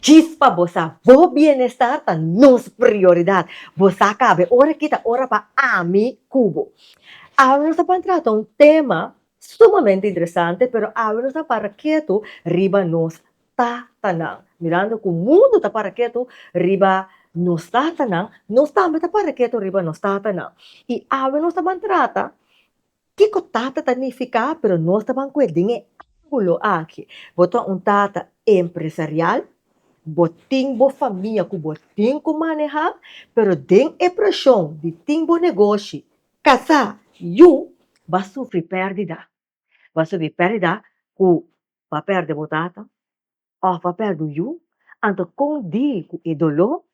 Djis pa bo sa, bo bienestar ta nos prioridad. Bo sa cab'e ora aki ta ora pa ami cu bo. Awe nos a pan trata un tema sumamente interesante, pero awe nos a para ketu riba nos tatanan. Mirando cu mundo ta para ketu riba nos tatanan, nos tambe ta para ketu riba nos tatanan. Y awe nos a pan trata Kiko tata ta nifiká pero nos ta ban ku e den e angulo aki. Bo ta un tata empresarial, bo tin bo famia ku bo tin ku manehá pero den e preshon di tin bo negoshi, kasá, yu, b'a sufri pèrdida. B'a sufri pèrdida ku b'a pèrdè bo tata òf b'a pèrdè bo yu, anto kon dil ku e doló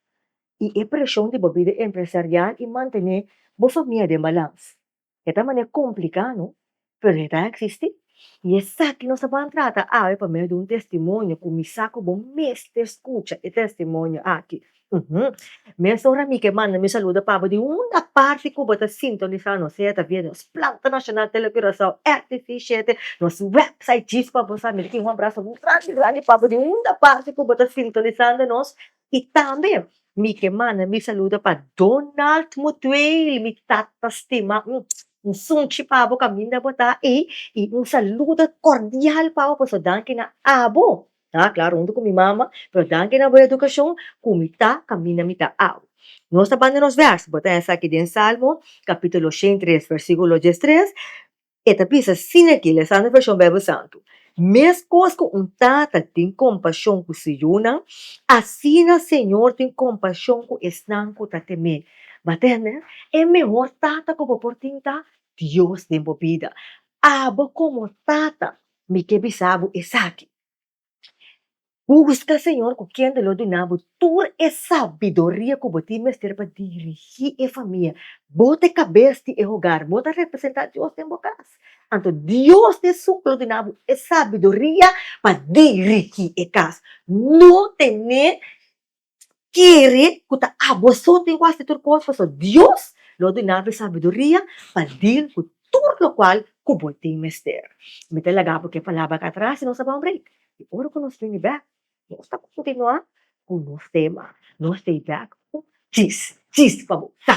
i e preshon di bo bida empresarial i mantené bo famia den balans? E ta manera complicá, no? Pero e ta existí. I esaki nos a ban trata awe pa medio di un testimonio cu mi sa cu bo mester scucha e testimonio aki. Uhum. Mesora mi ke manda mi saluda pa bo di unda parti cu bo ta sintonisá nos, sea ta via nos Planta Nacional Tele Curaçao, RTV shete, nos website, djis pa bo sa. Mi ta tin un abraso grandi, grandi pa bo di unda parti cu bo ta sintonisando nos. I tambe mi ke manda mi saludo pa Donald Mutuel, mi tata stima, un sunchi pa bo kaminda bo ta ei, i un saludo kordial pa bo, por eso danki na abo, a klar huntu ku mi mama, pero danki na bo edukashon ku mi ta kaminda mi ta abo. Nos ta banda nos vèrs, bo ta hèn esaki den Salmo kapitulo shen i tres, vèrsikulo diestres. E ta bisa, Sin aki, lesa na Vershon Bijbel Santu, Meskos ku un tata tin kompashon ku su yunan, asina Señor tin kompashon ku esnan ku ta tem'é. Bo a tende? E mehor tata ku bo por tin ta Dios den bo bida. Abo komo tata mi ke bisa bo esaki. Buska Señor ku kende lo duna bo tur e sabiduria ku bo tin mester pa dirigí e famia. Bo ta e kabes di e hogar, bo ta representá Dios den bo kas. Anto Dios di e suk lo duna bo e sabiduria pa dirigí e kas. No ten'é kere ku ta aboso den kual si tur kos, pasobra Dios lo duna bo e sabiduria pa dil ku tur lokual ku bo tin mester. Mi ta laga bo ku e palabra aki atras i nos a bai un break. I ora ku nos bini bèk, nos ta kontinuá ku nos tema. Nos ta e bèk ku djis djis pa bo sa!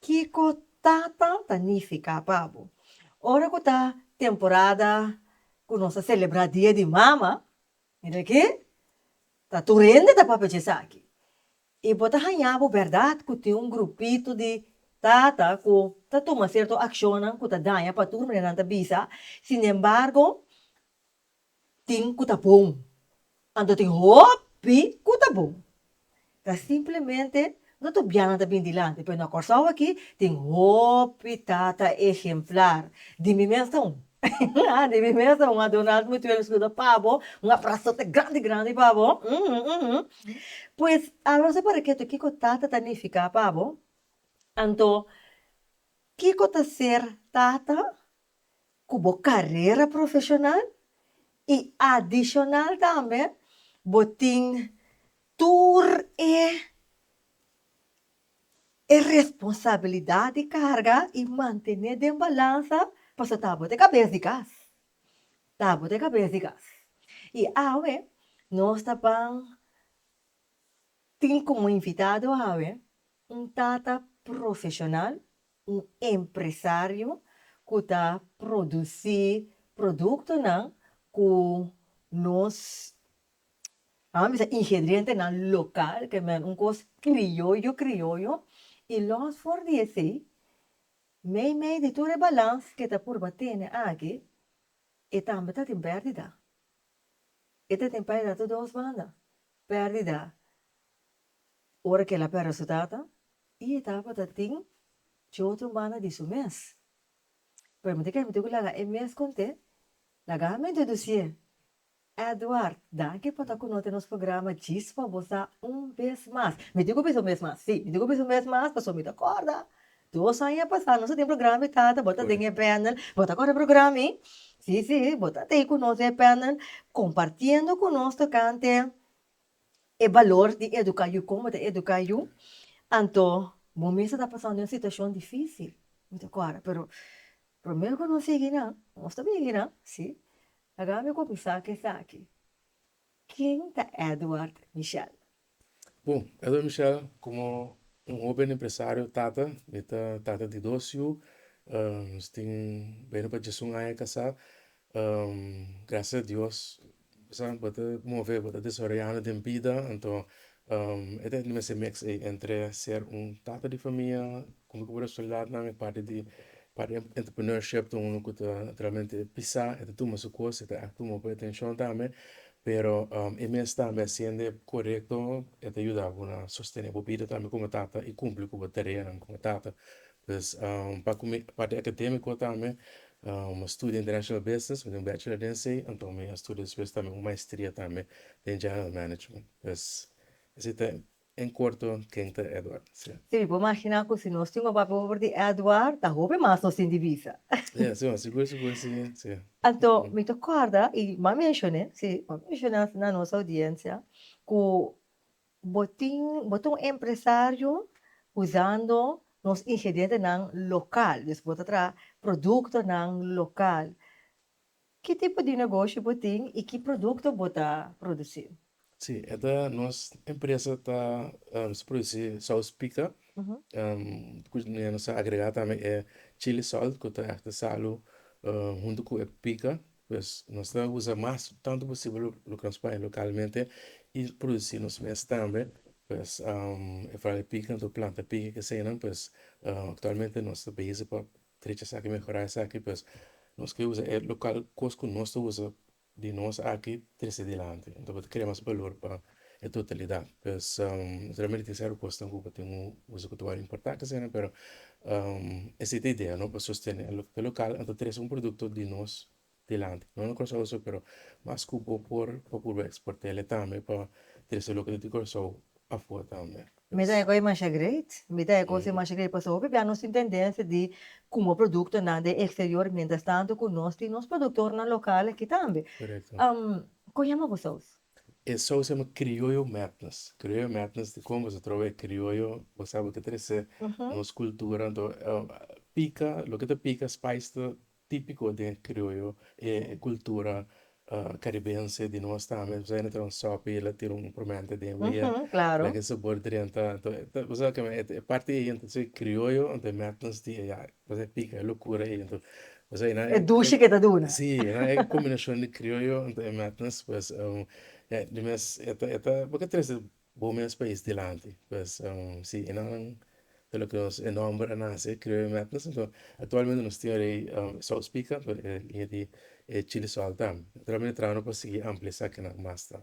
Kiko ta tan ta nifiká pa bo? Ora ku ta temporada ku nos ta selebrá Dia di Mama, mira akí, ta tur hende ta papia di esaki. I bo ta hañá bo bèrdat ku tin un grupito di tata ku ta tuma sierto akshonnan ku ta daña pa tur, manera nan ta bisa. Sinembargo, tin ku ta bon, anto tin hopi ku ta bon. Ta simplemente no tur bianan ta bin dilanti, pero na Kòrsou aki tin hopi tata ehemplar, di mi mes ta un, ha di mi mes ta un, ha Donald Mutuel skuda pa bo, un abrasote grandi grandi pa bo, pues alòs e para ketu kiko tata ta nifiká pa bo, anto kiko ta ser tata? cu bo carera profesional y adicional tambe bo tin tur e e responsabilidad di carga y mantene den balansa pasobra ta bo ta cabes di cas, ta bo ta cabes di cas. Y awe nos ta ban tin como invitado awe un tata profesional. un empresario cu ta produci productonan cu nos a misa ingredientenan local, que men un cos crioyo crioyo, y los for di esey, meimei di tur e balans que ta purba tene aki, e tambe ta tin perdida, e ta tin perdida ta dos banda, perdida ora que el a per resultatonan. E etapa ta tin tjou tromana di su mes. Pramente ke mente ku laga e mes konte, laga mi introdusie Edward. Danki por ta ku nos den nos programa Chispa bo sa un bes mas. Mi tin ku bisa un bes mas, si, mi tin ku bisa un bes mas pasobra mi ta korda dos aña pasa nos a tin programa mi tata bo ta den e panel bo ta kore programa mi, si si bo ta tei ku nos den e panel kompartiendo ku nos tokante e balor di educa yu como ta educa yu anto bo mester ta pasando un situacion dificil mi ta cuara pero promero cu nos yegi nan nos ta bini nan si agape mi cuminsa cu esaki ken ta Edward Michel? Bon Edward Michel como un hoben empresario tata mi ta tata di dos yu nos tin beni pa diesun aña casa gracias a Dios Kusnan bo ta move, bo ta desaroyando den bida, anto e ta hende mester mix ei entre ser un tata di famia, kumer ku bo resultadnan, e parti di entrepreneurship ta unu ku ta realmente bisa, e ta tuma su kos, e ta tuma bo atencion tambe, pero e mes tambe hasiende korekto e ta yuda bo na sostene bo bida tambe como tata y cumpli cu bo tareanan como tata, Pues pa cu mi parti academico tambe mi a studia international business mi tin un bachelor den esey anto mi a studia despues tambe un maestria tambe den general management pues esey ta en corto ken ta Edward si'a. Si mi por magina cu si nos tin un papia over di Edward ta hopi mas nos tin di bisa. Ya si mami sigur sigur si si'a. Anto mi ta corda y m'a mencion'e si m'a mencion'e na nos audiencia cu Bo tin bo ta un empresario usando nos ingredientenan local, dus bo ta traha productonan local. Ki tipo di negoshi bo tin y ki producto bo ta produci? Si, e ta nos empresa ta produci saus pica, cu nos a agrega tambe e chili salt cu ta aki ta salu hunto cu e pica Pues nos ta usa mas tantu posibel loke nos paña lokalmente i produsi nos mes tambe pues e fala di piki kanta bo planta piki kesenan pues aktualmente nos ta bizi pa trecha esaki mehorá esaki pues nos ke usa e lokal kos ku nos ta usa di nos aki trese dilanti bo ta krea mas balor pa. e totalidad pues realmente esey aru cosnan cu bo tin usa cu ta wor importante asina pero esey ta idea no pa sostene lo que ta local enta trece un producto di nos dilanti no na curacao so pero mas cu bo por procura exportele tambe pa trece loke ta di curacao afuer tambe Mi ta eco e masha great mi ta eco e masha great pasobra hopi bia nos tin tendencia di cumo productonan den exterior mientras tanto cu nos tin nos productornan local aki tambe co yama bo saus. E show se yama Criollo Madness, Criollo Madness di con boso troba e criollo bo sabe loke ta rese nos cultura anto pica loke ta pica spice ta tipico den e criollo e cultura caribense di nos tambe bo sabe awe ta traha un sopi la tira un promento den awe laga e sabor drenta anto bo sabe kico e parti aye anto criollo anto e madness di eya. Pasa pica locura ahí ento pasa ahí nan. E dushi ke ta duna. Sí nan e combinacion di criollo ento e met nos pues ya di mes eta eta bo ke trece bo mes pais dilanti pues si enan ta loke nos e nomber a nace criollo a met nos ento actualmente nos tin rei sauce pica pero e línea di e chili sòl tam e traha no por sigui ampliasa kinan mas tam.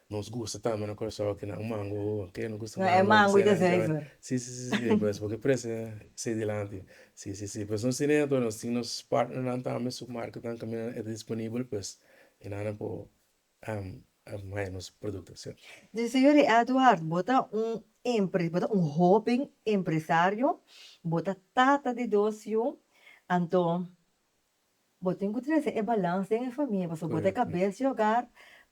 Nos gusta tambe na Curaçao aki nan mango oh ken no gusta mango. No e mango y gezeiver. Si si si si pues porque prese sei dilanti si si si pues nos tin e ato nos tin nos partner nan tambe su market nan caminda nan e ta disponibel pues e nan nan por haya nos producto si no. Di señor di Edward bo ta un empre bo ta un hoben empresario bo ta tata di dos yu anto Bo tin ku trese e balans den e famia pasobra bo ta e kabes di hogar,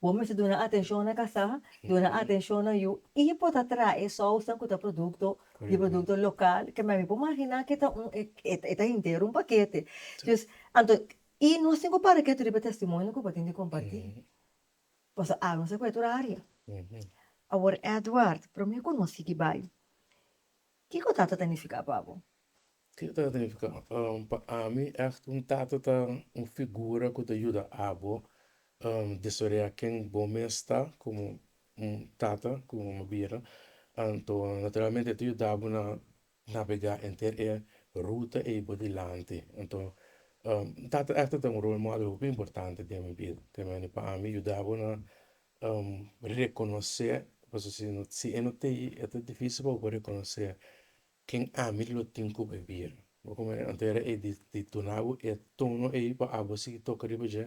bo mester duna atenshon na kasá, duna atenshon na yu i bo ta traha e sousnan ku ta produkto di produkto lokal ke mi por maginá ke ta un e ta henter un pakete. Dus anto i nos tin ku para ketu riba testimonio ku bo tin di kompartí paso a nos ta ku e tur área. Awor Edward, promé ku nos sigui bai, kiko ta ta ta nifiká pa bo? Kiko ta significa? Pa ami echt un tata ta un figura cu ta yuda abo desorea ken bo mes ta como un tata como un mama bira anto naturalmente e ta yudabo na navega enter e ruta ey bo dilanti anto un tata echt ta un role model hopi importante den mi bida te me pa ami yudabo na reconoce pasobra si e no tey e ta dificil pa bo reconoce Ken ami lo tin ku bebia? Bo ku mi anto era e di duna bo e tono ei pa abo sigui toka riba dje?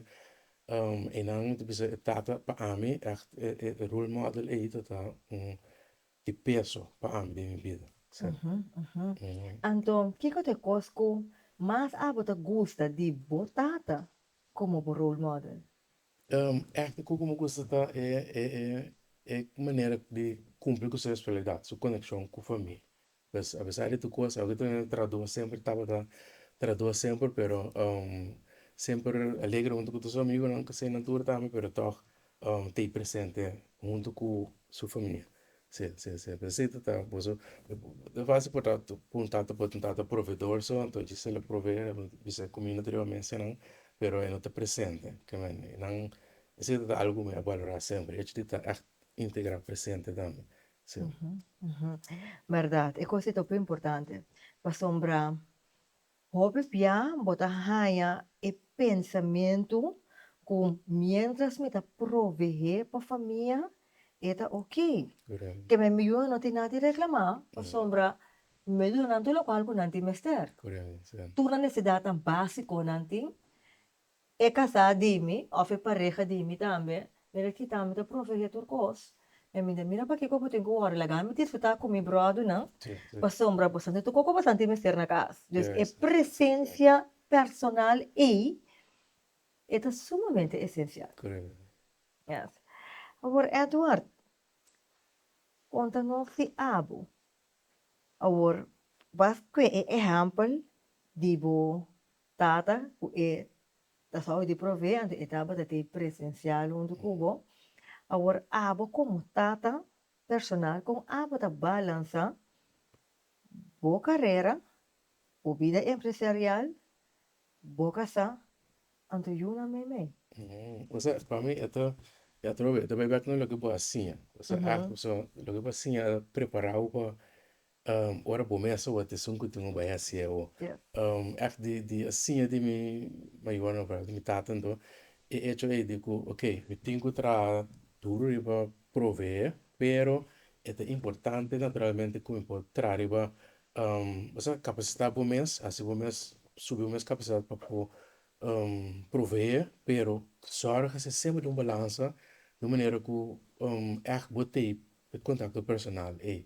Einan mi ta bisa e tata pa ami ègt e role model ei tata un di peso pa ami den mi bida. Anto kiko ta e kos ku mas abo ta gusta di bo tata komo bo role model? Etnico como cu esaki ta e manera di cumpli cu su responsabilidad, su coneccion cu famia. Pues apesar di tur cosa awe ta traduba semper tabata traduba semper pero semper alegre hunto cu tur su amigonan, cu seña tur tambe pero tog ta ey presente hunto cu su famia. Si, si, si, besito ta boso bo fácil por ta un tata por un tata proveedor so entonces si el a provee a lo bisa como yo no ta riba mensanan pero e no ta presente ke men e nan esei ta algo mi a balora semper hecho di ta ègt integra presente tambe si. Berdad e kos ei ta hopi importante pasobra Hopi bia bo ta haña e pensamentu ku miéntras mi ta proveé pa famia e ta oke. Keme mi yu a no tin nada di reklamá pasobra mi a duna nan tur lokual ku nan tin mester. Tur nan nesesidatnan básikonan tin E casá di mi of e pareha di mi tambe mi ta kita mi ta proveé tur cos en mi ta mira pakico bo tin cu worry laga mi disfruta cu mi brodunan pasobra bo santi tur coco bo santi mester na cas dus e presencia personal ey e ta sumamente esencial yes awor Edward con ta no fi abo awor bas cu e ehempel di bo Tata cu e ta sa di provee antes e tabata t'e presencial huntu cu bo awor abo como tata personal con abo ta balansa bo carera bo bida empresarial bo casa anto yu nan meimei. Osea pa mi e ta e atrobe e ta bay bek na loke bo a siña osea loke bo a siña a preparau pa Ora bo mester wak esun ku tin un bai hasi awo. Ef di a siña di mi mayornan òf ef di mi tatan dor e echo ei di ku ok mi tin ku traha duru riba proveé pero e ta importante naturalmente ku mi por traha riba osea kapasitá bo mes hasi bo mes subi bo mes kapasitat pa por proveé pero sòrg hasi semper di un balansa di un manera ku ef bo tei E contacto personal ey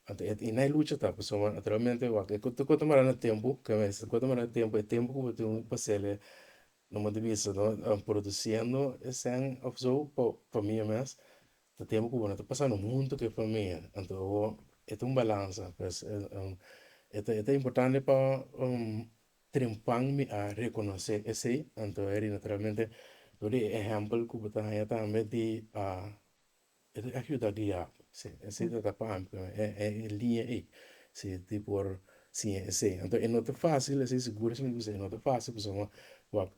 anto e na e lucha ta pasobra bo naturalmente wak e cu ta mara na tempo ca mester ta cota mara tempo e tempo cu bo tin pa hacerle no bo ta bisa no produciendo esen of so pa pa mi mes ta tempo cu bo no ta pasando hunto cu e famia anto awor e ta un balanza pues e ta e ta importante pa triunfan mi a reconoce esey anto ey naturalmente dor di e ehempel cu bo ta haya tambe di. E ta ayuda guianan. Si, esei ta tapa ami cu e liña ei, si tin por siña esei. Anto e no ta facil, esei sigur esei bisa e no ta facil pasobra bo wak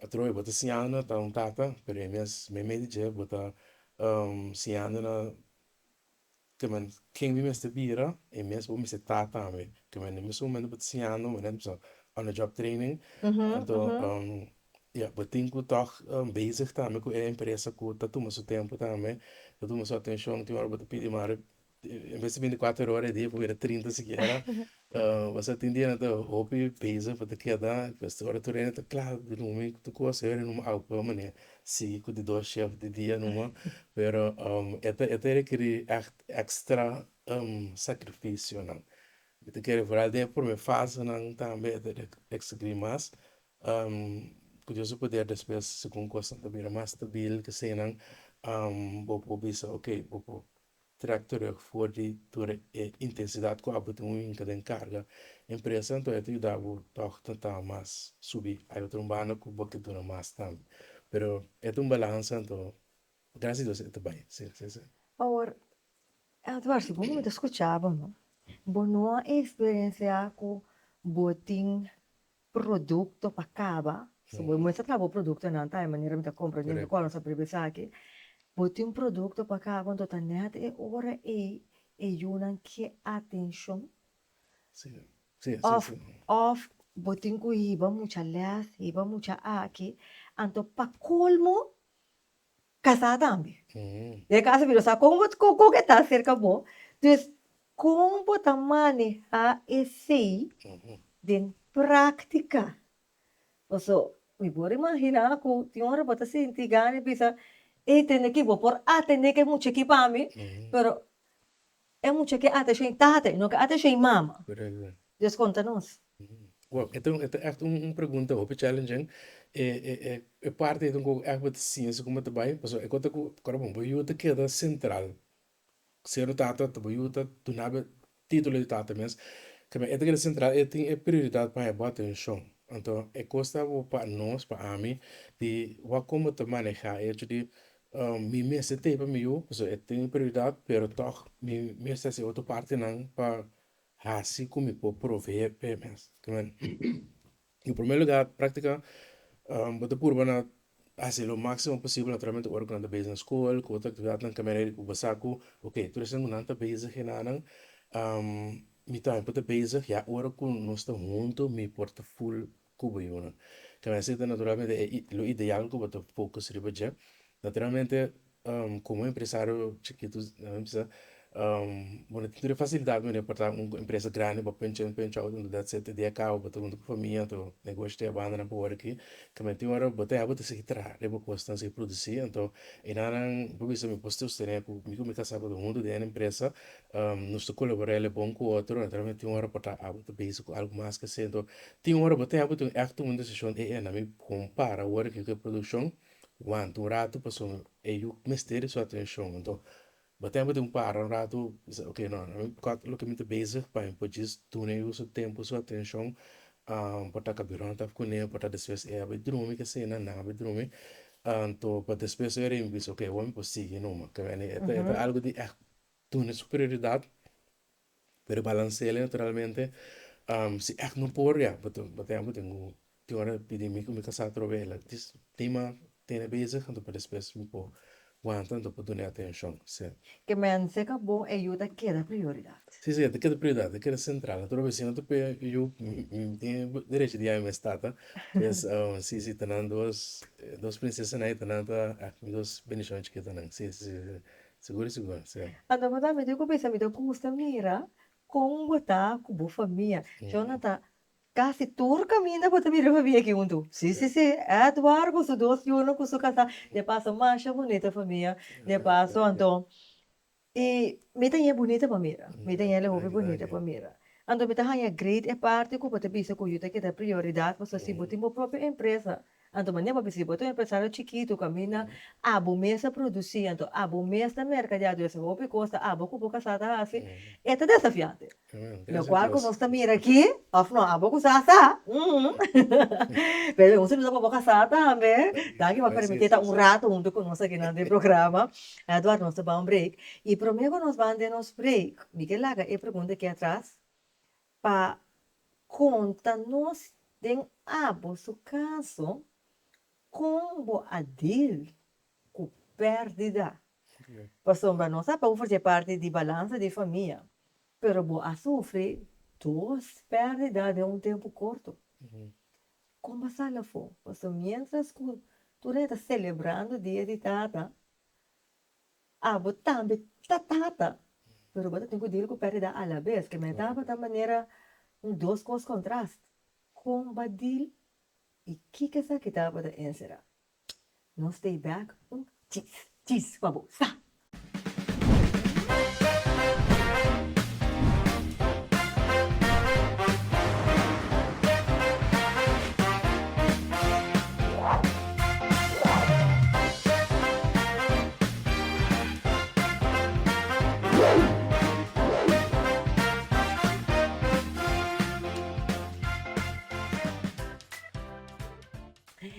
atrobe bo ta siñando ta un tata, pero e mes meme di dje bo ta siñando na te men ken mi mester bira, e mes bo mester ta tambe. Te men e misti momento bo ta siñando, bo ta bisa on the job training, anto. Ya, bo tin ku tòg bezig tambe ku e empresa ku ta tuma su tempu tambe, ta tuma su atenshon, tin ora bo ta pidi mari, en ves di binticuater ora e dia por bira trinta sikiera, pasá tin dianan ta hopi bezig pa ta keda, pues ora tur hende ta kla di rumi ku tur kos, e rumi au pa mane sigui ku di dos shèf di dia numa, pero e ta e ta rekerí ègt èkstra sakrifisionan, i ta kere for al den e prome fasenan tambe e ta rekerí mas, Ku Dios su poder despues segun kosnan ta bira mas stabil kesenan bo por bisa ok bo por trek terug for di tur e intensidat ku abo tin un hinka den karga empresanan todavia ta yuda bo tog ta ta mas subi hay otro un banda ku bo ke duna mas tambe pero e ta un balans anto gracias Dios e ta bai si si si. Awor Edward si bo mi ta skucha bo no bo no a eksperensia ku bo tin. produkto pa kaba so bo mester traha bo produktonan ta e manera mi ta kompra dje mi kòrda mi sa prebe esaki bo tin produkto pa kaba anto ta neha ta e ora ei e yunan ke atenshon òf òf bo tin ku hiba mucha lès hiba mucha aki anto pa kolmo kasá tambe y a kasa bira sa kon kon e ta serka bo dus kon bo ta manehá esei den práktika pasobra mi por a imaginá ku tin ora bo ta sinti gana di bisa ey tende aki bo por atendé ke muchachi pa mi pero. E mucha ke ata shei tata i no ke ata shei mama. Dios konta nos. Wow e ta e ta echt un pregunta hopi challenging e e e e parti ei ta un koko echt bo ta sinse kuma ta bai pasobra e kota ku ora bo yu ta keda sentral ser un tata ta bo yu ta duna bo titulo di tata mes kamba e ta keda sentral e tin e prioridad pa haya bo atencion anto e kos ta bo pa nos pa ami di wak kon bo ta maneha e hecho di Mi mester tei pa mi yu, pasobra e tin e prioridat, pero tòg mi mester hasi e otro partinan pa hasi ku mi por provee pa e mes. Lo primer lugar practica bo ta purba na hasi lo maximo posibel naturalmente ora ku nan ta bes na skol ku otro aktividatnan kaminda redi ku bo sa ku ok tur esei ku nan ta bezig enanan mi tambe por ta bezig ya ora ku nos ta huntu mi por ta full Cuba y una camiseta naturalmente e lo ideal cu bo ta focus riba dje naturalmente como empresario chikito a mim bisa bo no tin tur e facilidad mende pa porta un empresa grandi pa penchei un penchua auto un datse te dia cabo bo ta hunto cu famia anto negoshi ta yabanda nan pa wor aki cami tin ora bo ta ya bo ta sigui traha riba cos nan siqui produci anto e nannan bo ta bisa mi por sostene cu mi cu mi casa bo ta hunto den e empresa nos ta colabora el bon cu otro naturalmente tin ora porta abo ta base cu algo mas ke esey anto Tin ora bo ta heba tin ekto un desishon e ena mi kon para worde ke ke produkshon wanta un ratu paso e yu mester su atenshon enton bo ta heba tin para un ratu bisa ok no mi kòt loke mi ta bezig pa mi por djis duna e yu su tempu su atenshon por ta kabiròn ta kune por ta despues e aba e drumi e kesina nan aba e drumi anto pa despues su heren bisa ok awor mi por sigui numa ta wene e ta algu di duna su prioridat. pero balansela naturalmente si act no por ya bo tin bo tin tin ora pidi mi ku mi kasa atrobe ela dis tima tene besig anto pa despues mi por wanta anto por dun'e atencion se. Ke mens e ka bon e yu ta keda prioridad. Si si e ta keda prioridad e ta keda central atrobe si no ta p'e yu mi mi tin derecho di yami mes tata pues si si tanan dos dos princesanan e tanan ta act mi dos bendicion chikitanan si si. Sigur sigur si. Anto bo ta mete kubisa mi ta gusta mira kon bo ta ku bo famia Jonathan kasi tur kaminda bo ta bira famia aki huntu si si si Edward ku su dos yonan ku su kasa de paso masha bunita famia de paso anto i mi ta ñe bunita pa mira mi ta ñe la hopi bunita pa mira anto mi ta haña great e parti ku bo ta bisa ku yu ta keda prioridad pasobra si bo tin bo propio empresa. Anto mania bo bisa di bo ta un empresario chikitu kaminda abo mes a produsi anto abo mes ta merkadea tu ese hopi kos ta abo ku bo kasa ta hasi e ta desafiante de akual ku nos ta mira aki of no abo ku sa sa pero un saludo pa bo kasa tambe tanki pa permiti ta un rato huntu ku nos aki na den programa Edward nos ta bawen break i prome ku nos ban den nos break mi ke laga e pregunta aki atras Pa konta nos den abo su kaso kon bo a dil ku pèrdida. Pasobra nos a pau forse e parti di balansa di famia, pero bo a sufri dos pèrdida den un tempu korto. Kon bo a sali afó? Pasobra miéntras ku tur hende ta selebrando dia di tata, Abo tambe ta tata, pero bo ta tin ku dil ku perdida alabes. Ke meta abo ta manera un dos kos kontrast. Kon bo a dil i kiko esaki ta bo ta enserá? No stay back un chis, chis pa bo. Sa!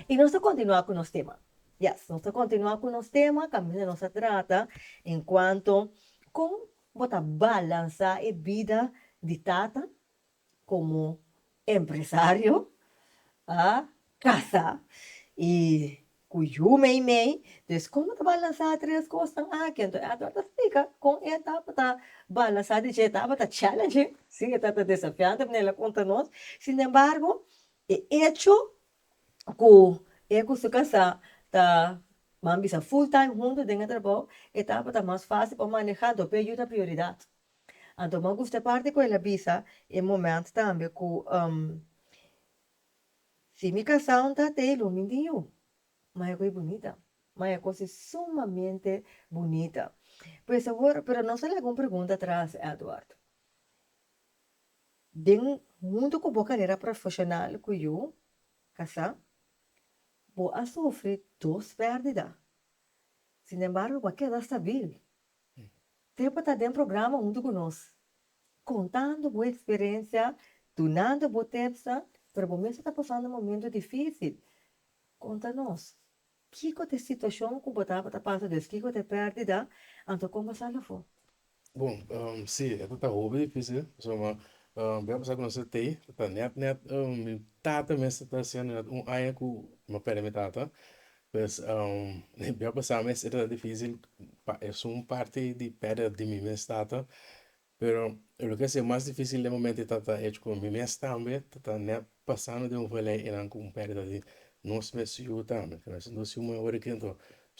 I nos ta kontinuá ku nos tema. Yes, nos ta kontinuá ku nos tema kaminda nos a trata en kuanto kon bo ta balansá e bida di tata komo empresario a kasa i ku yu meimei dus komo ta balansa tres kosnan aki anto e ato a ta splika kon e tabata balansa di dje e tabata challenging si e tabata desafiante por nel a konta nos sin embargo e echo ku e ku su kasa ta nan bisa full time huntu den e trabou e tabata mas fácil pa maneha anto p'e yu ta prioridad Anto mou gust'e parti ku el a bisa e moment tambe ku si mi kasá un ta tei lo mi tin yu ma e goi bunita ma e kos e sumamente bunita pues awor pero nos a laga un pregunta atras Edward den huntu ku bo karera profeshonal ku yu kasá bo a sufri dos pèrdida sinembargo bo a keda stabil Te pa ta den programa huntu ku nos, kontando bo eksperensia, dunando bo tepsnan, pero bo mes a ta pasando momentu difísil. Konta nos, kiko ta e situashon ku bo tabata pasa des? Kiko ta e pèrdida? Anto kon bo sa lo afó? Bon, sí, e tabata hopi difísil, pasobra bo a pasá ku nos e tei, ta nèt nèt mi tata mes ta hasiendo nèt un aña ku mi a pèrdè mi tata. Pues mi a pasa mester ta dificil pa esun parti di peder di mi mes tata pero loke a sido mas dificil den momento e tata ech cu mi mes tambe tata nep pasando den un vele eran con perdida di nos mes yu tambe nos tin dos yu moe awor aki anto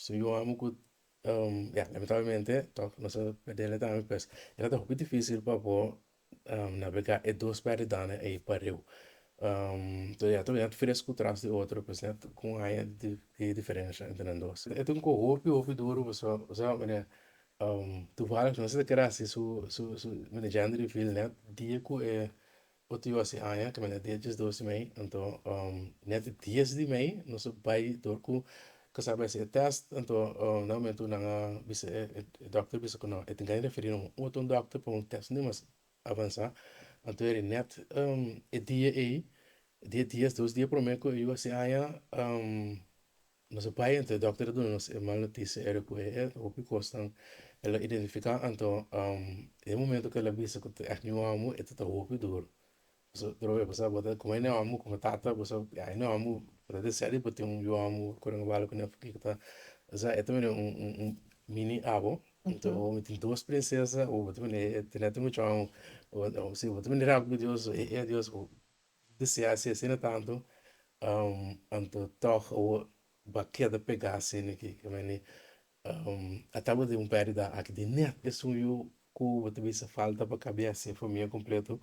so yu amo cu ya lamentablemente toc nos a perdele tambe pues e ta hopi dificil pa bo. na beka e dos berdadnan ei pareu. Toda ya ta bini fresco tras di otro pues nan con haya e diferencia entre nan dos. E ta un cu hopi hopi duro pasobra pasobra mira toevallig nan seta keda haci su su su mira gender reveal net dia cu e otro yo a haci aña caminda dia diesdos di mei anto net dies di mei nos a bay door cu Kasa mester e test anto na momento nan a bisa e doctor bisa ku e tin ke referí na un otro un doctor pa un test mas avansa anto e net e dia ei dia dies dos dia prome ku e yu a hasi aña nos a bai anto e doctor a duna nos e mal notisia ere ku e hopi kosnan el a identifica anto e momento ku el a bisa ku ta acne wan bo e ta ta hopi duru Bo sa prove bo sa bo ta como e neo amo como tata bo sa ya e neo amo bo ta desea di bo tin un yu amo cu renga bala cu neo porque ta esa e ta vene un un un mini abo enton bo mi tin dos princesa o bo ta vene e tene tin muchu amo o si bo ta bini rato cu dios e e dios bo desea asi asina tanto anto tog awor bo a keda pega asina ke ke meni A tabata un perdida aki di net esun yu ku bo ta bisa falta pa kabes e famia kompleto,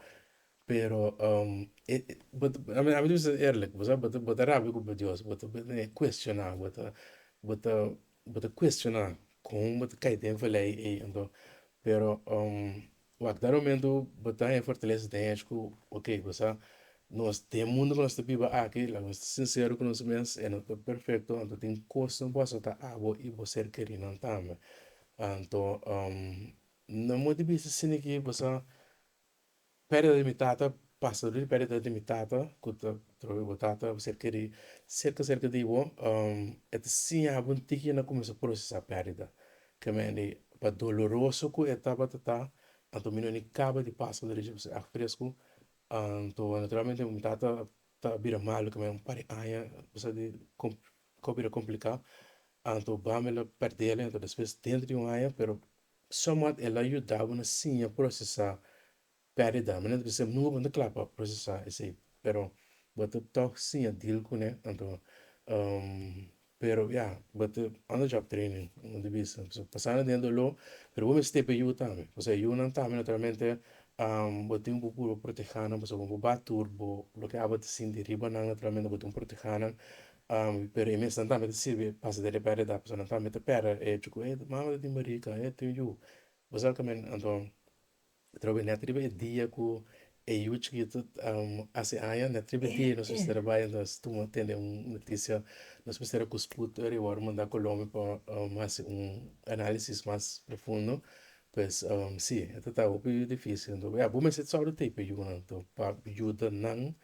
pero ami ta bisa erlik, bo sa bo bo ta rabia ku bo dios, bo ta kueshoná, bo ta bo ta bo ta kueshoná kon bo ta kai den vela ei ei anto pero. Wak dado momento bo ta hen fortaleza ta hen cu ok bo sa nos den mundo cu nos ta biba aki laga nos ta sincero cu nos mes e no ta perfecto anto tin cosnan por hacinan ta abo y bo ser querinan tambe anto na modo di bisa scini aki bo sa pedida di mi tata pasa dor di pedida di mi tata cu ta troba bo tata bo ser queri cerca cerca di bo e ta siña bo tin cue na cuminsa procesa pedida Tremendo i pa doloroso ku e tabata ta, anto mi no ni kaba di pasa derecho pa si ak fresku, anto naturalmente mi tata ta bira malu keme un par di aña kusa di ko bira kompliká, anto bame la pèrdele, anto despues dentro di un aña, pero sòmòt el a yudaba na siña prosesá Perdida, mi no ta bisa nunka bo no ta kla pa procesa esey pero bo ta tok siña deal cune anto pero ya bo ta on the job training bo ta bisa pasobra pasa na den dolor pero bo mi stay p'e yu tambe pasobra e yunan tambe naturalmente bo tin un poco puru protehanan pasobra wen bo ba tur bo loke abo ta sinti riba nan naturalmente bo tin puru protehanan pero e mesnan tambe ta sirbi pasa den e perdida pasobra nan tambe ta perde e chucu ey mama ta tin barica ey ta tin yu bo sa kimen anto. Trob'e na triba e dia ku e yu chikitu hasi aña, na triba e dia nos mester a bai entonces tuma tene un notisia, nos mester a kuspu tur e wòrdu manda Colombia pa hasi un analisis mas profundo, pues si e ta tabatin hopi dificil entonces abo mester ta sòru tei p'e yunan to pa yuda nan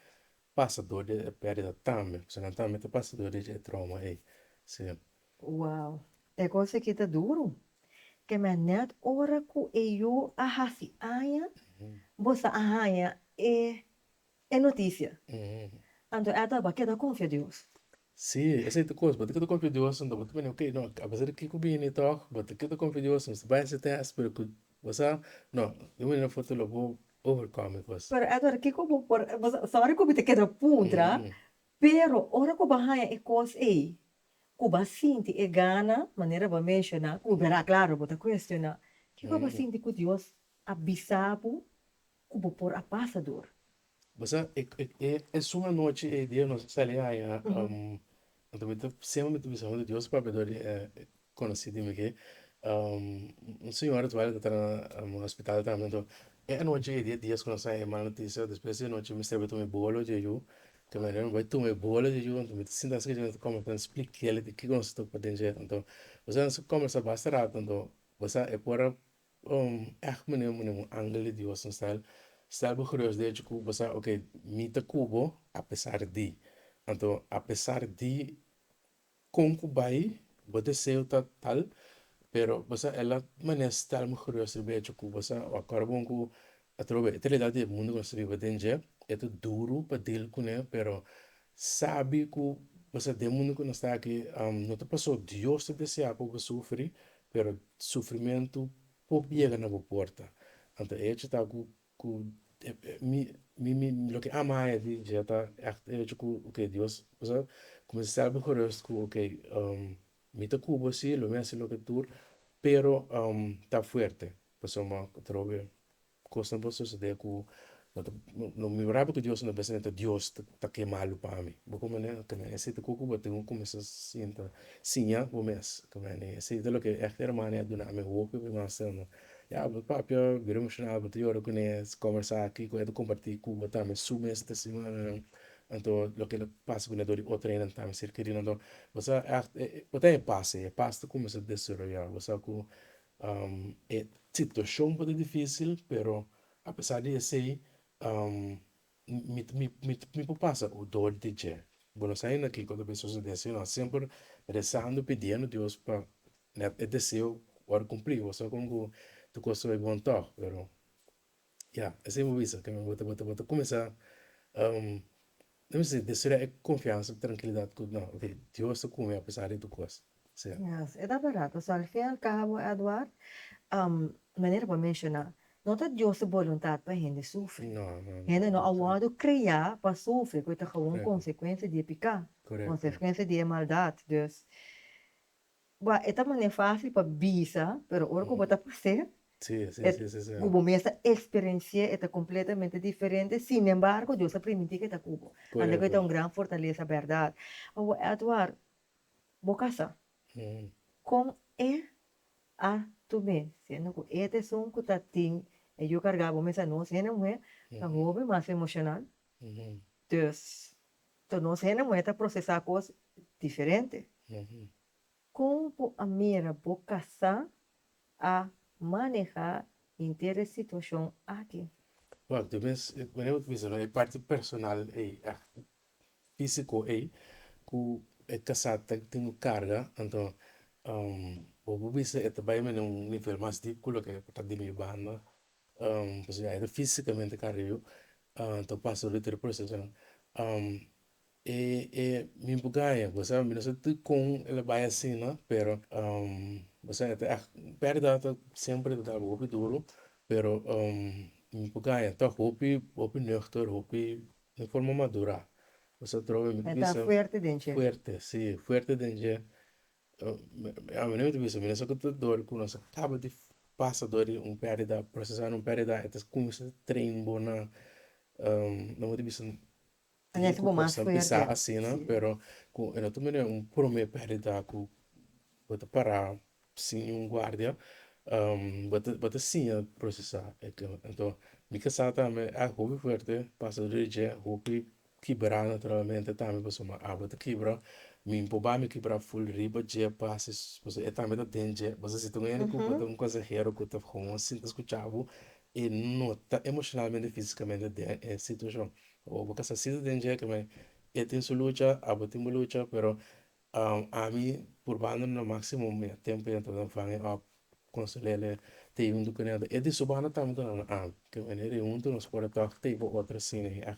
pasa dor di e perdida tambe, pasobra nan tambe ta pasa dor di e tròma ei. Wow! E cos aki ta duro. Te mei net ora cu e yu a haci aña bo sa a haña e e noticia. Anto Ethel bo a keda confia Dios? Si, esey ta cos. Bo ta keda confia Dios anto bo ta bini okay, no, a pesar di kico bini tog bo ta keda confia Dios, mester bay ese test pero cu bo sa no, de un manera of otro lo bo overcome e cos. Pero Edward kico bo por, bo sa, sorry cu bo ta keda puntra, pero ora cu bo a haña e cos ey ku bo a sinti e gana, manera bo a menshoná, ku bo bira klaru, bo ta kuestioná, kiko bo a sinti ku Dios a bisa bo ku bo por a pasa dur? Bo sa, e esun anochi ei dia nos a sali haña, anto mi ta, semper mi ta bisa huntu Dios papia dor di e konosí di mi ke un señor a tual a ta tra na hospital tambe. Anto e anochi ei dia dies ku nos a haña e mal notisia, despues di anochi mi sirbi tuma e bolo dje yu, Te manera mi bai tuma e bola dje junto mi ta sinta asina dje mi ta comenzá a explica el di kiko nos ta ocupa den dje anto boso a haci comenzá basta rato anto bo sa e por a echt manera bo manera un angel di dios nos ta el sta bo curios di hecho ku bo sa okay mi ta ku bo a pesar di anto a pesar di. Kon ku bai, bo deseo ta tal, pero bo sa e la manera e sta alma kurios riba e hecho ku bo sa acorda bon ku atrobe e tralidad di e mundo ku nos ta biba den dje e ta duru pa deal kuné, pero sabi ku bo sa den mundo ku nos ta aki no ta paso Dios ta desea pa bo sufri, pero sufrimentu por yega na bo porta. Anto e hecho ta ku Ku mi mi loke ama haña di dje ta e hecho ku okay dios a kuminsá sèlber kurioz ku okay mi ta ku bo si lo mi hasi loke tur pero ta fuerte pasobra mi a trobe kosnan por sosode ku no mira bo ku dios no bisa ku dios ta ke malu pa mi bo komo ne oke mi a hasi te ku ku bo tin bo kuminsá sinta siña bo mes ku mi a hasi esei ta loke ekte hermano a duna mi hopi mas. Ya bo ta papia bira emocional bo ta yora cu ne conversa aki cu e ta comparti cu bo tambe su mes ta simbra anto loke lo pasa cu nedor di otro hende nan tambe cerca di nan anto bo sa bo ta haya paz e paz ta cuminsa desaroya bo sa cu e situacion por ta dificil pero apesar di esey Mi por pasa cu dor di dje. Bo no sa aina kico ta por sucede si no semper rezando pidiendo dios pa e deseo word cumpli bo sa como cu ta cosa ta bon to pero ya esey bo bisa que bo ta cuminsa destrui e confiansa y tranquilidad cu no ok dios ta cu mi apesar di tur cosa. Sí. Yes, e ta barato, so al fin al cabo Edward, manera bo a menciona, no ta Dios su boluntad pa hende sufri. No, no, no. Hende no a wordo crea pa sufri, cu e ta gewoon Correcto. consecuencia di e pica, Correcto. consecuencia di e maldad. Dus, bo a e ta manera facil pa bisa, pero ora cu bo ta pas'e, Sí, sí, sí, sí, sí. cu bo mes a experienci'e, e ta completamente diferente, sin embargo Dios a primiti cu e ta cu bo. Correcto. Anda cu e ta un gran fortaleza, berdad. Awor Edward, bo kasa kon e a tu mes siendo ku e ta esun ku ta tin e yu karga bo mes a nos hende muhé ta hopi mas emoshonal dus to nos hende muhé ta prosesá kos diferente kon bo a mira bo kasá a manehá hinter e situashon aki? Wak tu mes e parti personal ei físiko ei ku e kasá ta tin un karga, anto bo por bisa e ta bai men na un nivel mas dip ku loke ku ta di mi banda, pasobra ya e ta físikamente karga yu ta pasa loke tur e prosesonan e e mi bo gaña bo sa mi no sa dikon el a bai asina pero bo sa e ta ègt un pèrdida ta shempre ta taba'bo hopi duru pero mi bo gaña tòg hopi hopi nùgter hopi. Un forma madurá. Bo sa trobe mi ta bisa. Bo ta fuerte den dje. Fuerte, sí. Fuerte den dje. Ami no mi ta bisa. Mi no sa ku ta dor ku nos a kaba di pasa dor di un perdida, procesando un perdida. E ta kuminsa ta train bo na no bo ta bisa tigi ku cosnan pisá asina. Pero ku e no ta manera un prome perdida ku. Bo ta pará sin un guardia, bo ta siña prosesá e kla. Anto mi ta sa tambe e awa hopi fuerte pasa dor di dje, hopi kibrá naturalmente tambe pasobra mi awa ta kibra, mi por bai mi kibra ful riba dje pasa pasobra e tambe ta den dje. Bo sa si ta un hende ku bo ta un konsahero ku ta kon sinta skuchá bo, e no ta emoshonalmente ni físikamente den e situashon. O bo kasa sinta den dje, e tin su lucha, abo tin bo lucha pero Ami purbando na maximo mi tempo ya ta vanghe òf con Celele te yunto cu nel. E di subana tambe ta duna ami cu Celele ta yunto nos por tok ta ypa otro cine ya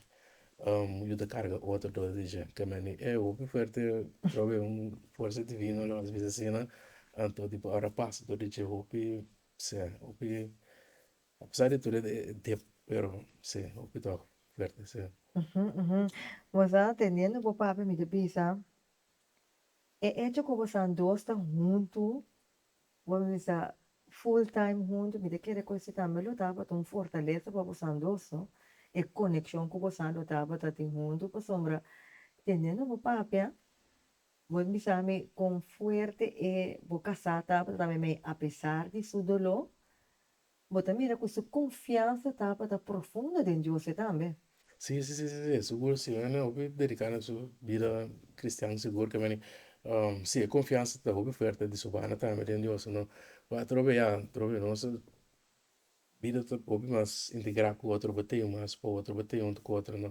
yu ta carga otro dos di dje cu me e hopi fuerte prob e un fuerza divino lo haci asina anto di por ora pasa dor di dje hopi sea hopi A pesar di tur e tempo pero si hopi ta fuerte si. Bo sa teniendo bo pape mi ta bisa e hecho cu bosan dos ta hunto bo mi bisa full time hunto mi ta kere cu si tambe lo tabata un fortaleza pa bosan dos no e coneccion cu bosan lo tabata tin hunto pasobra teniendo bo papia bo mi bisa mi con fuerte e bo casa tabata tambe mi a pesar di su dolo Bo ta mira ku su konfiansa tabata profundo den Dios ei tambe? Sí, sí, sí, sí, sugur sí. Nan a hopi dediká nan su bida kristian sigur ke mane. Sí, e konfiansa ta hopi fuerte di Sofana tambe den Dios. No kua atrobe ya, atrobe nos a bida ta hopi mas integrá ku otro, bo tin mas pa otro, bo tin huntu ku otro. No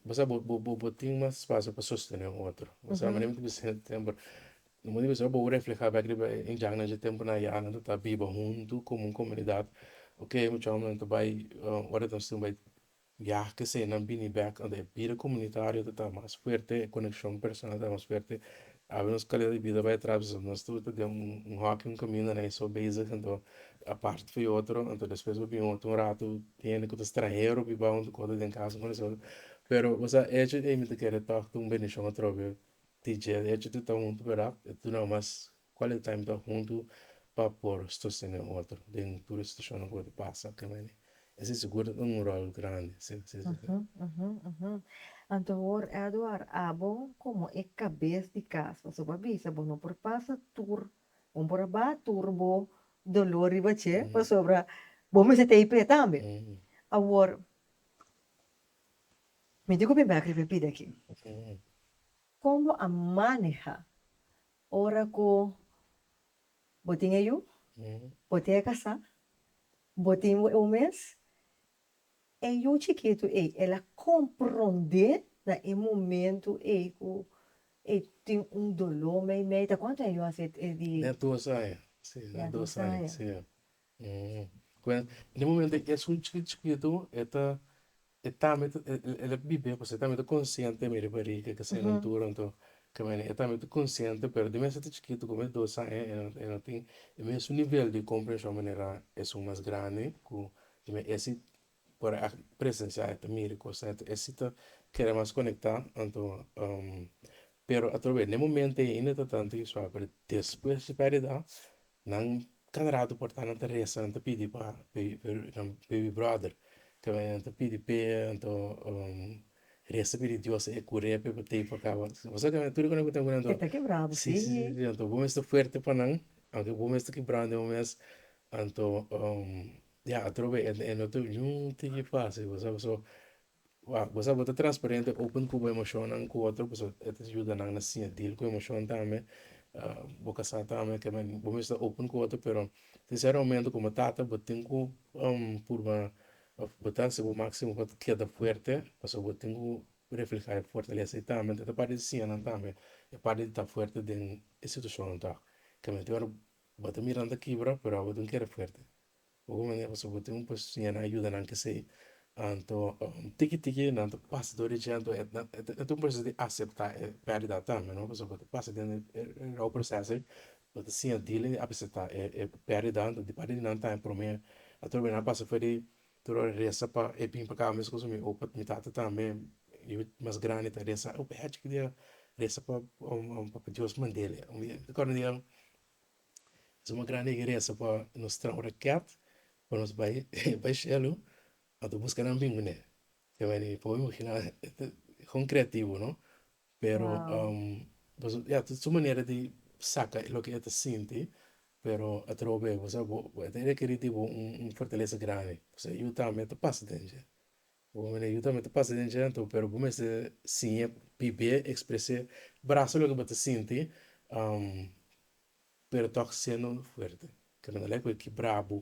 bo sa bo tin mas spasio pa sostené otro. Bo sa bo ta bisa siempre No mester bisa bo refleha bek riba e indiannan dje tempunan ya nan ta biba huntu komo un komunidat ok mi chòmnan nan ta bai ora ta misti bai biaha kesei nan bini bek ante e bida komunitario ta mas fuerte e konekshon personal ta mas fuerte awe nos kalidad di bida bai atras biseo nos tur ta den un hòkio un kaminda nan e so bezig anto a parti fu e otro anto despues bo bin otro un ratu hende ku ta stranhero biba huntu ku otro den kas pero bo sa echo ei mi ta kere tòg ta un bendishon atrobe. di dje e hecho tur ta huntu verdad e tur nan mas quality time ta huntu pa por sostene otro den tur e situacionnan cu lo ta pasa aki na Baní esey segur ta tuma un rol grandi si así ta ser. Anto hoor Edward abo como e cabes di cas pasobra bo a bisa bo no por pasa tur bo no por a ba tur bo dolor riba dje pasobra bo mester ta a p'e tambe awor Mi di ku mi bek riba e pida aki. Kon bo a maneha ora ku bo tin e yu, bo tin e kasá, bo tin bo eu mes? E yu chikitu ei, el a komprondé na e momentu ei ku e tin un doló meimei. Ta kuantu aña yu a hasi e di? Na dos aña, si, na dos aña. Bueno, den e momento ei es un chikit chikitu e ta e tambe ta el a bibe pues e tambe ta consciente mira e bariga e kesey na dura anto caminda e tambe ta consciente pero di mes e ta chikito como es dos aña e no tin e mesun nivel di comprension manera esun mas grandi cu esey Por a presenciá e ta mira cosnan e ta excitá kere mas conectá anto pero atrobes den e momento ey ainda ta tanto y suave pero despues di caridad nan cada rato por nan ta resa nan ta pidi pa baby brother keme nan ta pidi p'e anto resa pidi dios e cur'e p'e batei pa caba bo sa keme tur e cu tempo nan ta esta quebrado si si si anto bo mester fuerte pa nan aunke bo mester quebrado anto. Ya atrobe e no tin niun tin di facil bo sa bo so wak bo sa bo ta transparente open cu bo emocion nan cu otro pasobra e ta yuda nan na siña deal cu emocion tambe bo ca sa tambe ke men bo mesmo ta open cu otro pero tin cierto momento como tata bo tin cu purba of bo ta haci bo maximo pa keda fuerte pasobra bo tin cu refleha e fortalesa y tambe ta parte di siña nan tambe e parte di ta fuerte den e situacionnan tok keme tin ora bo ta mira nan ta kibra pero abo tin keda fuerte. Bobo mania pasobra bo tin un pasionan nan a yuda nan kesey anto tiki tiki nan ta pasa dor di dje anto e ta un proceso di acepta e perdida tambe no pasobra bo ta pasa den e raw proceso ey bo ta siña dile acepta e perdida anto di parte di nan ta prome ato nan a pasa for di tur hora resa pa e bin pa cabo mes cosa mi o pa mi tata tambe yu mas grandi ta resa o pa e hacheki dia resa pa dios mandele mi ta acorda un dia Suma gran egeresa pa nos traha un raket pa nos bai bai shelu a ta buska nan bin kuné te mene i por imaginá kon kreativo no pero pasobra ya ta su manera di saka loke e ta sinti pero a ta troba'e bo sa bo bo e ta rekerí di bo un fortalesa grandi pasobra yu tambe a ta pasa den dje. Bo mene yu tambe ta pasa den dje anto pero bo mester siña bibé expres'é brasa loke bo ta sinti pero tòg siendo fuerte kende ta lek bo ki brabu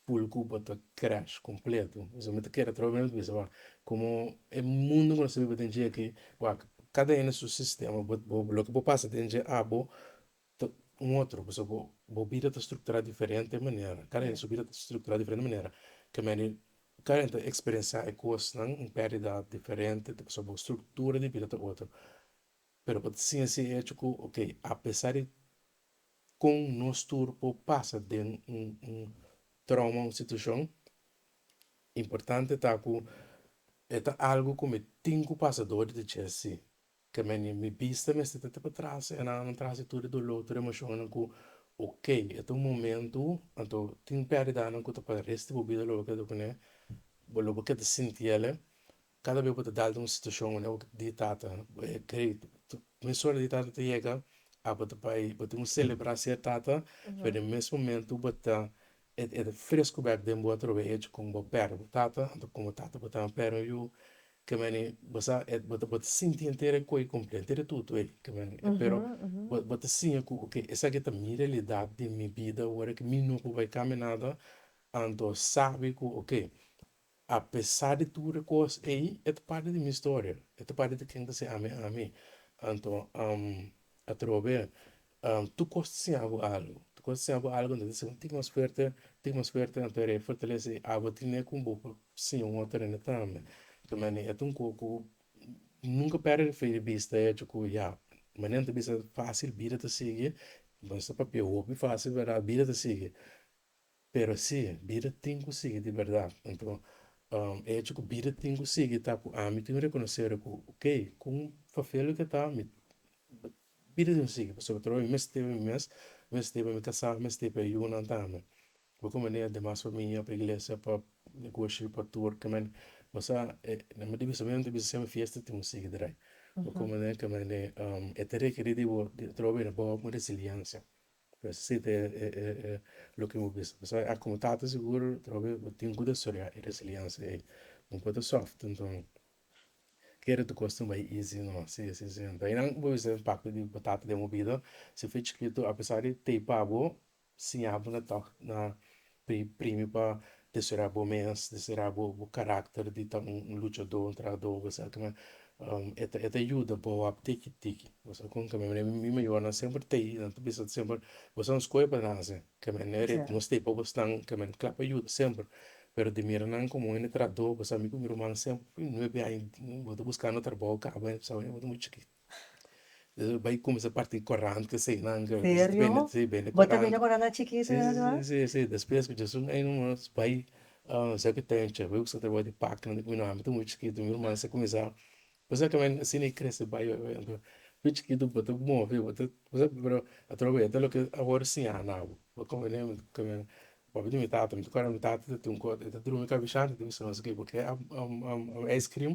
pul ku bo ta crash completo esaki mi ta keda atraba mi misa wak komo e mundo ku nos ta biba den dje aki wak kada ene su sistema bo loke bo pasa den dje abo Ta un otro pasobra bo bo bida ta structura diferente manera cada hende su bida ta structura diferente manera caminda cada hende ta experiencia e cosnan un perdida diferente ta pasobra bo structura di bida ta otro pero bo ta siña si e hecho cu ok apesar di con nos tur por pasa den un un trauma un situacion importante ta cu e ta algo cu mi tin cu pasa dor di dicier si Ke meni mi bista mester ta ta pa trase e nannan trase tur e doló tur e emoshonnan ku ok e ta un momentu anto tin pèrdidanan ku ta pa resti di bo bida lo bo keda kuné bo lo bo keda sinti el'e kada bes ku bo ta dal den un situashon wak bo di tata mes ora di tata ta yega a bo ta bai bo tin ku selebrá ser tata pero den mes momento bo ta E ta fresco bek den bo atrobe echo con bo perna bo tata, anto con bo tata bo ta na perna yu, ke men e bo sa bo ta sinti henter e koe comple henter e tutu ey ke men e pero bo ta siña cu ok esaki ta mi realidad den mi bida ora ke mi no por bay caminada anto sabi cu ok Apesar di tur e kos ei, e ta parti di mi storia, e ta parti di ken ta ser ami ami. Anto atrobe tur kos ta siña bo algu, tur kos ta siña bo algu, anto e ta ser un tin mas fuerte, un tin mas fuerte, anto era e fortalesa ei abo tine ku bo por siña un otro hende tambe. Enton mi ane e ta un kos ku nunka perde di fe di bista e hecho ku ya, manera nan ta bisa fasil bida ta sigui, bo no sa papia hopi fasil, bida ta sigui. Pero si, bida tin ku sigui di bèrdat. Anto, e hecho ku bida tin ku sigui ta ku ami tin rekonosé ku okey, kon fafia loke ta, mi bida tin ku sigui pasobra torob mi mester pa mi mes, mi mester pa mi kasá, mi mester pa e yunan tambe. Bai ku manera demas famia, pa iglesia, pa negoshi, pa tur kimin mi sa na mi divisamentu bisa semper fiesta tin ku sigui drai. Bai ku manera kimin e ta rekerí di bo, torob e na bawe ku resiliensia. Siti e loke bo bisa pasobra aki bo tata sigur trobe bo tin ku ta storiá e resiliencia ei bo por ta soft nto kere ta kos tin bai easy no si si si nto einan bo bisa den papia di bo tata den bo bida si fu chikito apesar di teipa bo siña bo na tok na Pri, primi pa deserá bo mes, deserá bo, bo karakter di ta un, un luchadó, un trahadó, bo sa ke men, e ta, e ta yuda bo wòrdu tiki tiki, bo sa kon ke men, mi mayornan semper tei, nan ta bisa semper, bo sa un skoe pa nan hasi, ke men e ret, nos tei pa bo snan, ke men kla pa yuda semper, pero di mira nan komo hende trahadó, bo sa mi ku mi ruman semper, fin nuebe aña bo ta buskando trabou, kaba aña bo ta sabé bo ta muchu chikit. Bai cuminsa parti corante si nan cu bende corante si si despues cu jesus na ey nos bai siya cu taya chep bai busca trabajo de paca ami ta muy chikito mi herman sa cuminsa cosa cu mi asina a crece bai bai chikito bo ta move bo ta pero atraba bo ya ta loke awor siña na bo bo ta wene mi papi demi tata mi ta acuerdo mi tata ta tun cor ta drumi cabishal ta bisa nos ok bo ke ice cream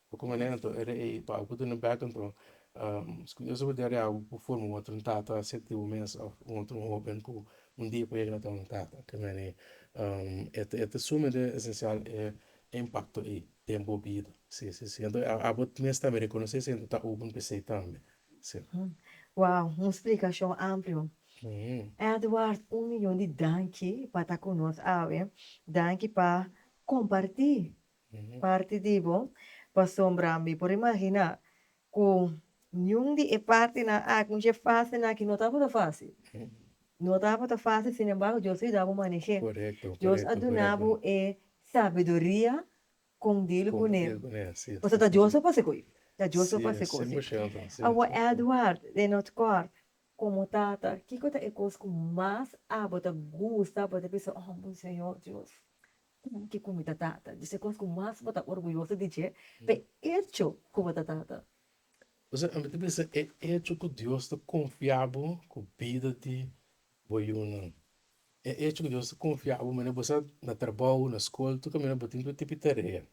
Oca ku Nena ta ora ei pa au ku duna bek anto scun Dios a wardera di au ku forma un otro tata a ser di bo mes of un otro hoben ku un dia por yega na ta un tata ke mene e ta sumamente esencial e impacto ei den bo bida si si si anto abo mes tambe reconoce si anto ta open pesey tambe si. Wow un splicacion amplio Edward un miyon di danki pa ta cu nos awe danki pa comparti Parti di bo, pasobra mi por imaginá ku niun di e partinan aki un dje fásilnan aki no tabata fásil. No tabata fásil, sin embargo, Dios a yuda bo maneh'é. Dios a duna bo e sabiduria kon dil ku ne. Pasobra ta Dios papas'é ku i. Ta Dios papas'é ku i. Awa Edward den North Court, komo tata, kiko ta e kos ku mas abo ta gusta abo ta bisa, Oh, mi Señor Dios! Kon ke ku mi ta tata? Dje kos ku mas bo ta orguyoso di dje, pa e echo ku bo ta tata. Osea, ami ta bisa e echo ku Dios ta konfia bo ku bida di bo yunan. E echo ku Dios ta konfia bo mina bo sa na trabou, na skol, tur kaminda bo tin tur tipi tarea.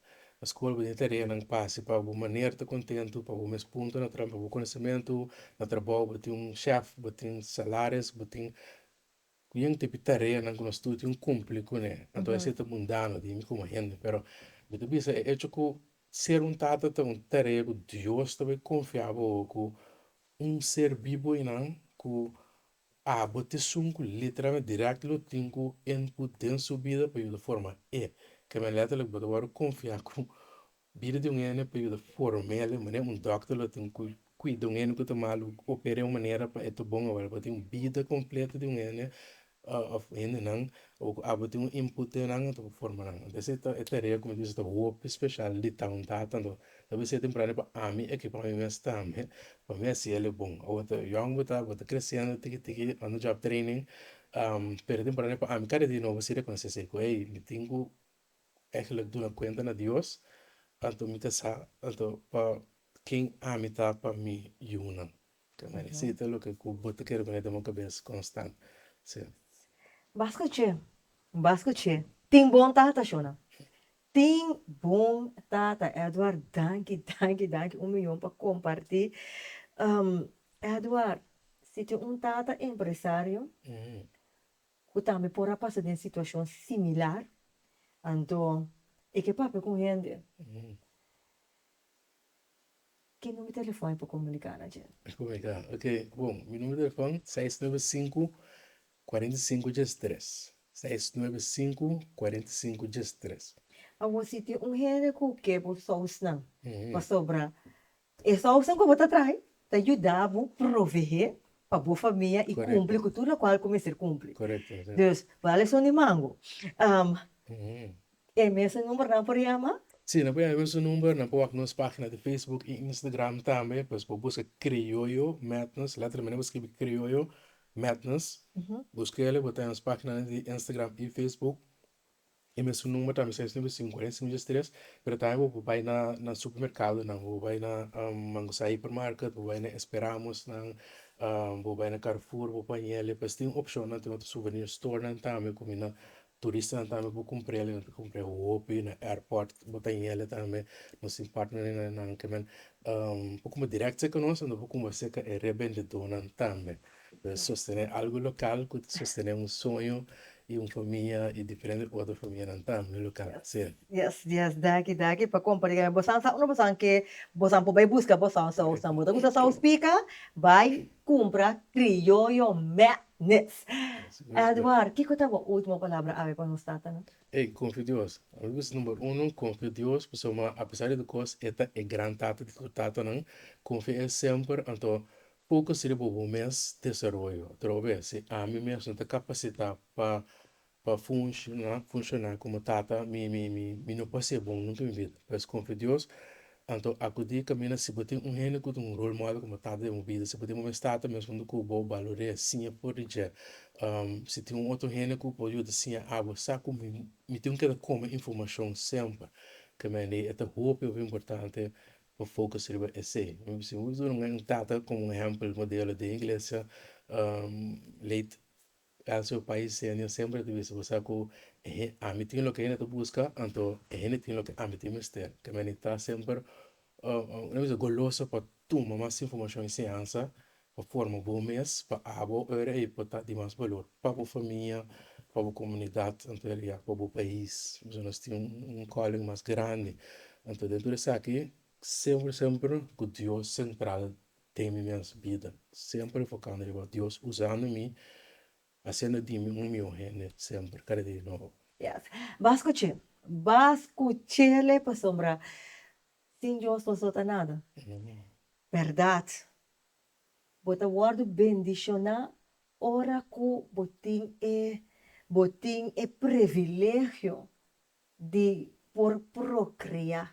Na skol bo tin tareanan pasi pa bo maner ta kontentu, pa bo mes punto na trampa bo konosementu, na trabou bo tin un shèf, bo tin salaris, bo tin. Ku yen ta bin tareanan ku nos tur tin ku kumpli ku ne. Anto esei ta mundano di mi komo hende, pero mi ta bisa e echo ku ser un tata ta un tarea ku Dios ta bai konfia bo ku un ser bibo einan ku abo ta esun ku literalmente dirèkta lo tin ku e ku den su bida pa yuda forma e. Kaminda lèterlik bo ta wòrdu konfia ku Bida di un hende pa yuda formel'e manera un dòkter lo ta bin ku kuida un hende ku ta malu, oper'e un manera pa e ta bon awor. Bo ta tin un bida kompleto di un hende òf hendenan o ku abo tin un input den nan anto pa forma nan. Anto esei ta e tarea ku mi ta bisa ta hopi speshal di ta un tata anto ta bisa e ta importante pa ami aki pa ami mes tambe pa mi a siel e bon. Awor ta yòn bo ta bo ta kresendo tiki tiki on di job training pero ta importante pa ami kada dia nobo a siu rekonosé esei ku ey mi tin ku Esaki lo duna kuenta na Dios, anto mi ta sa, anto pa ken ami ta pa mi yunan? Esei ta loke ku bo ta kere pone den bo kabes konstant. Bas kuché, bas kuché. Tin bon tata shona. Tin bon tata Edward danki danki danki un miyon pa komparti. Edward si tin un tata empresario ku tambe por a pasa den situashon similar, anto e ke papia ku un hende, Ke number telefòn e por komuniká na dje? E komuniká, ok, bon, mi number telefòn seis nuebe sinku kuarenta i sinku djes i tres, seis nuebe sinku kuarenta i sinku djes i tres. Awor si tin un hende ku ke bo sousnan, pasobra E sousa ku bo ta trai ta yuda bo proveé pa bo famia i kumpli ku tur lokual ku mester kumpli. Dus, bo a leson di mangu. E mesun numbernan por yama? Sí, nan por yama e mesun number. Nan por wak nos página di facebook i instagram tambe. Pues bo buska Criollo Madness, lèter mene bo skirbi Criollo Madness. Busk'e, bo ta haya nos páginanan di instagram i facebook. E mesun number tambe sa esnan cinco den semillas tres pero tambe bo por bay na na supermercadonan bo por bay na mangusta hyper market bo por bay na esperamos nan bo por bay na carrefour bo pañeles pues tin opcionnan tin otro souvenir store nan tambe cu mina turistanan tambe por cumprele nan ta cumpre hopi na airport bo ta yele tambe nos tin partner nan kimen por cumba directo seca nos ento por cumba seca e rebendedornan tambe. Puede sostene algo local cu ta sostene un soño y un famia y diferente otro famianan tam lo local ta hacer. Yes yes daki daki pa compra digami bosan sa unu bosan ke bosan por bay busca bosan sausnan bo ta gusta saus pica bay cumpra criollo madness Edward kico ta bo ultimo palabra awe pa nos tatanan. Ey confio Dios ami bisa number uno confio Dios pasobra apesar di tur cos e ta e gran tata di tur tatanan confia e semper anto Poko si di bo bo mes desaroyo, trou bes si ami mes no ta kapasitá pa pa funshoná funshoná komo tata mi mi mi mi no por hasié bon huntu mi bida. Pues konfia Dios, anto akudí kaminda si bo tin un hende ku ta un role model komo tata den bo bida, si bo tin bo mes tata mes huntu ku bo balori'é siña for di dje, si tin un otro hende ku por yuda siña abo sa ku mi mi tin keda kome informashon semper, kemende e ta hopi hopi importante pa focus riba esey. Mi bisa mi por yus un tata como un ehempel modelo den iglesia late Elcio Pais Senior semper a ta bisa sa cu e hen ami tin loke e hende ta busca anto e hende tin loke ami tin mester te mi a necesita semper goloso pa tuma mas informacion y enseñanza pa forma bo mes, pa abo ora ei pa ta di mas balor pa bo famia, pa bo comunidad, en realidad pa bo pais. Boso nos tin un calling mas grandi, anto dentro di esaki semper semper cu Dios central den mi mes bida, semper enfocando riba Dios usando mi, haciendo di mi un miho hende semper, cada dia di nobo. Yes, bas cuche, bas cuchele pasobra Sin Dios nos no ta nada. Berdad. Bo ta wordo bendiciona ora cu bo tin e bo tin e privilegio di por procrea.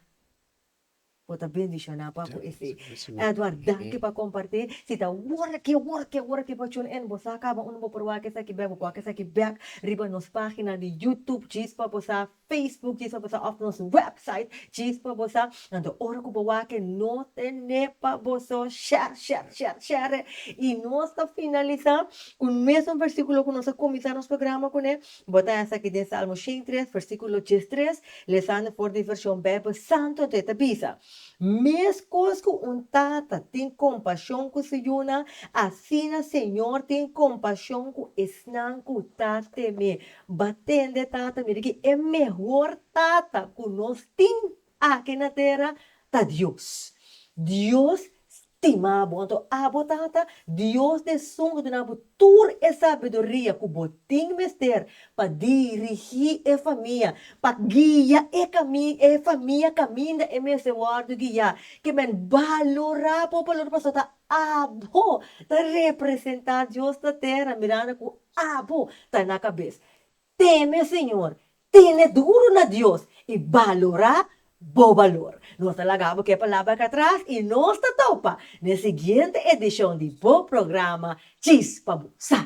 Bo ta bendiciona pa cu esey. Edward danki pa comparti. Si ta wor ki wor ki wor ki bo tune in bo sa caba unda bo proba esaki bek bo cua esaki bek riba nos pagina di YouTube djis pa bo sa Facebook djis pa bosa of nos website djis pa bosa anto ora ku bo wake no tene pa bo so sher sher sher shere i nos ta finalisa ku mesun versikulo ku nos a kuminsa nos programa kune bo ta esaki den Salmo shen i tres versikulo djes tres lesando for di vershon Beibel Santu anto e ta bisa meskos ku un tata tin kompashon ku su yunan asina Señor tin kompashon ku esnan ku ta teme Ba tende tata mira ki e mehor tata ku nos tin aki na tera ta Dios. Dios stima bo anto abo tata Dios di esun a duna bo tur e sabiduria ku bo tin mester pa dirigi e famia pa guia e kami e famia kaminda e mester wòrdu guia kiemen balora por balora pasobra ta Abo ta representá Dios na tera, miranda ku abo ta na kabes. Teme Señor, tene duru na Dios i balorá Bo balor. Nos ta laga abo ke palabra akatras i nos ta topa na e siguiente edishon di bo programa Chispa bo sa.